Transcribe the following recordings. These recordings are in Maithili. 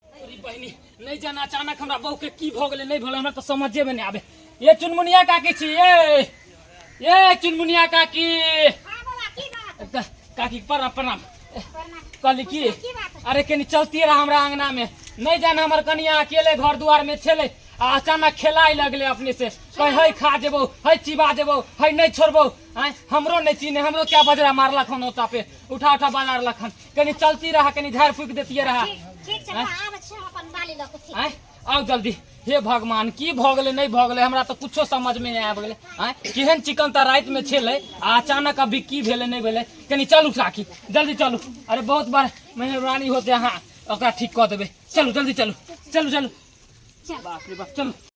अरे बहिनी नहीं जाना अचानक हमरा बहू के की भऽ गेलै नहीं भेलै हमरा तऽ समझे में नहीं आबे ये चुनमुनिया काकी छी ये ये चुनमुनिया काकी हाँ बाबा की बात क- काकी प्रणाम प्रणाम करना कहली की की बात है? अरे कनी चलती रहा हमरा अंगना में नहीं जाना हमर कनिया अकेले घर दुआर में छेले आ अचानक खेलाय लगले अपने से कहे है खा जेबो है चिबा जेबो है नहीं छोड़बो आँय, हमरो नहीं चीने हमरो क्या बजरा मारलक हन ओता पे उठा उठा बाजार लखन कनी चलती रहा कनी झाड़ फूक देती रहा ठीक ठीक छै हमरा आबै छै हम अपन बाली लऽ कऽ ठीक आँय आउ जल्दी हे भगवान की भऽ गेलै नहि भऽ गेलै हमरा तऽ कुछो समझमे नहि आबि गेलै आँय केहन चिकन तऽ रातिमे छलै आ अचानक अभी की भेलै नहि भेलै कनी चलू साखी जल्दी चलू अरे बहुत बार मेहरबानी होते अहाँ ओकरा ठीक कऽ देबै चलू जल्दी चलू चलू चलू चल बाप रे बाप चलू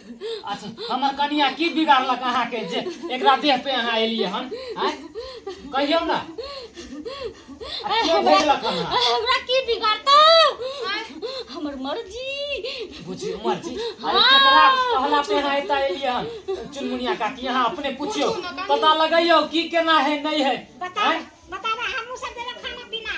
अच्छा हमर कनिया की बिगाड़लक अहाँ के जे एकरा देह पे अहाँ एलिए हन आँय? कहियौ ना आ के भेजलक हन अहाँ? हमरा की बिगाड़ता हमर मर्जी बुझियो मर्जी अरे केकरा कहला पे अहाँ एता एलिए हन चुनमुनिया काकी अहाँ अपने पूछियो पता लगैयो की केना है नहीं है बताओ आँय? बताओ हमहूँ सब देबै खाना पीना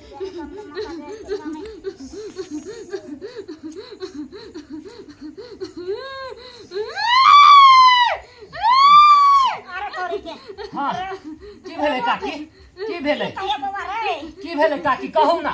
की भेलै काकी की भेलै की भेलै काकी कहू ने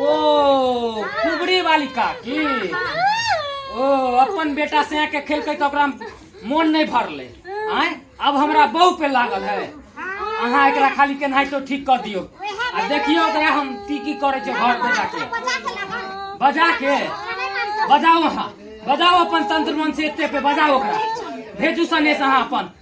ओ कुबड़ी वाली काकी ओ अपन बेटा से आके खेलकै तऽ ओकरा मोन नहि भरलै आय अब हमरा बहू पे लागल है अहाँ एकरा खाली केनाहितो ठीक कऽ दियौ आ देखियौ ओकरा हम की की करै छै घर पे जाके बजा के बजाओ अहाँ बजाओ अपन तंत्र मन से एते पे बजाओ ओकरा भेजू सनेश अहाँ अपन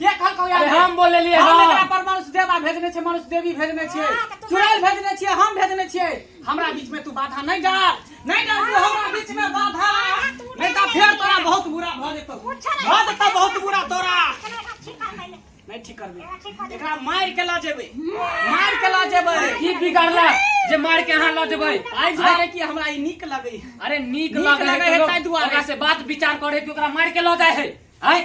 के कहलकौ यार अरे हम बोल लेलियै हम हँ। एकरा पर मनुष्य देवा भेजने छै मनुष्य देवी भेजने छै हँ, तऽ तू चुड़ैल भेजने छियै हम भेजने छियै हमरा बीच में तू बाधा नहीं डाल नहीं डाल तू हमरा बीच में बाधा नहीं तो फेर तोरा बहुत बुरा भऽ जेतौ भऽ जेतौ बहुत बुरा तोरा नहीं ठीक करबे एकरा मार के ला जेबे मार के ला जेबे की बिगड़ला जे मार के अहाँ लऽ जेबै आइ जारे कि हमरा ई नीक लगै अरे नीक नीक लगे लगै है है ताहि ताहि दुआरे। दुआरे ओकरा से बात विचार करे कि ओकरा मार के लऽ जाए है आय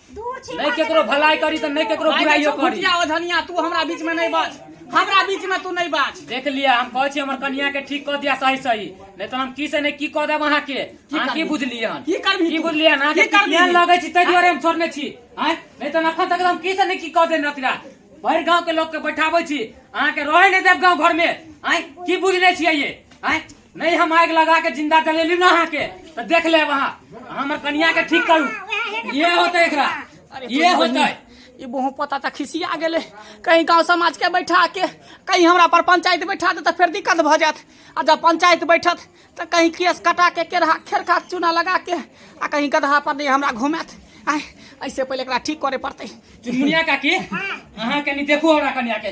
दूर छी नहीं केकरो भलाई करी तो नहीं केकरो बुराई करी ओ धनिया तू हमरा बीच में नहीं बाज हमरा बीच में तू नहीं बाज देख लिया हम कहै छी हमर कन्या के ठीक क दिया सही सही नहीं तो हम की से नहीं की क देब अहाँ के अहाँ की बुझलिए हन की करबी की बुझलिए हन की करबी ध्यान लगे छी तै दुआरे हम छोड़ने छी हैं नहीं तो अखन तक हम की से नहीं की क दे नतिरा भर गांव के लोग के बैठाबै छी अहाँ के रहे नहीं देब गांव घर में हैं की बुझले छियै ये हैं नहीं हम आग लगा के जिंदा जलेली ना अहाँ के तो देख ले वहाँ हमर कनिया के ठीक करू ये होते एकरा ये होते ई बहु पता त खिसिया गेले कहीं गांव समाज के बैठा के कहीं हमरा पर पंचायत बैठा दे त फिर दिक्कत भ जात आ जब पंचायत बैठत त कहीं केस कटा के केरहा खेरखा चूना लगा के आ कहीं गदहा पर नहीं हमरा घुमात आय ऐसे पहले एकरा ठीक करे पड़ते चुनमुनिया काकी अहाँ कनी देखू हमरा कनिया के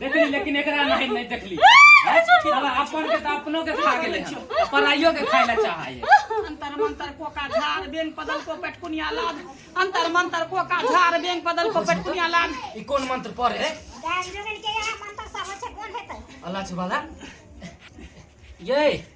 देखली लेकिन एकरा नहीं नहीं देखली अब अपन के तो अपनो के खा गेले हन, पराइयो के खाए ला चाहा है अंतर मंतर कोका झार बेंग पदल को पेटकुनिया लाद अंतर मंतर कोका झार बेंग पदल को पेटकुनिया लाद ई कौन मंत्र पढ़े है दान जोगन के यहाँ मंत्र सब होय छै कोन हेतै अल्लाह छुबाला ये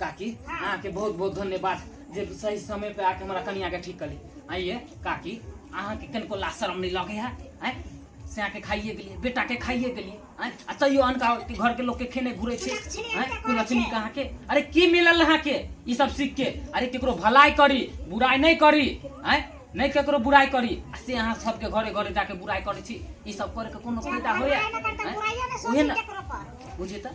काकी अहाँके बहुत बहुत धन्यवाद जे सही समय पे आके हमारा कनिया के ठीक कली आइए काकी अहाँके कनको ला शर्म नहीं लगे है आय से अहाँके खाइए गेलिए बेटा के खाइए गेलिए आय आ तैयो अनका के घर के लोग के खेने घुरे छे आय कुलछनी का अहाँके अरे की मिलल अहाँके ई सब सीख के अरे केकरो भलाई करी बुराई नहीं करी आय नहीं केकरो बुराई करी आ से अहाँ सबके घरे घरे जाके बुराई करै छी ई सब करे के कोनो फायदा होइए आय? ओहे ना बुझे तऽ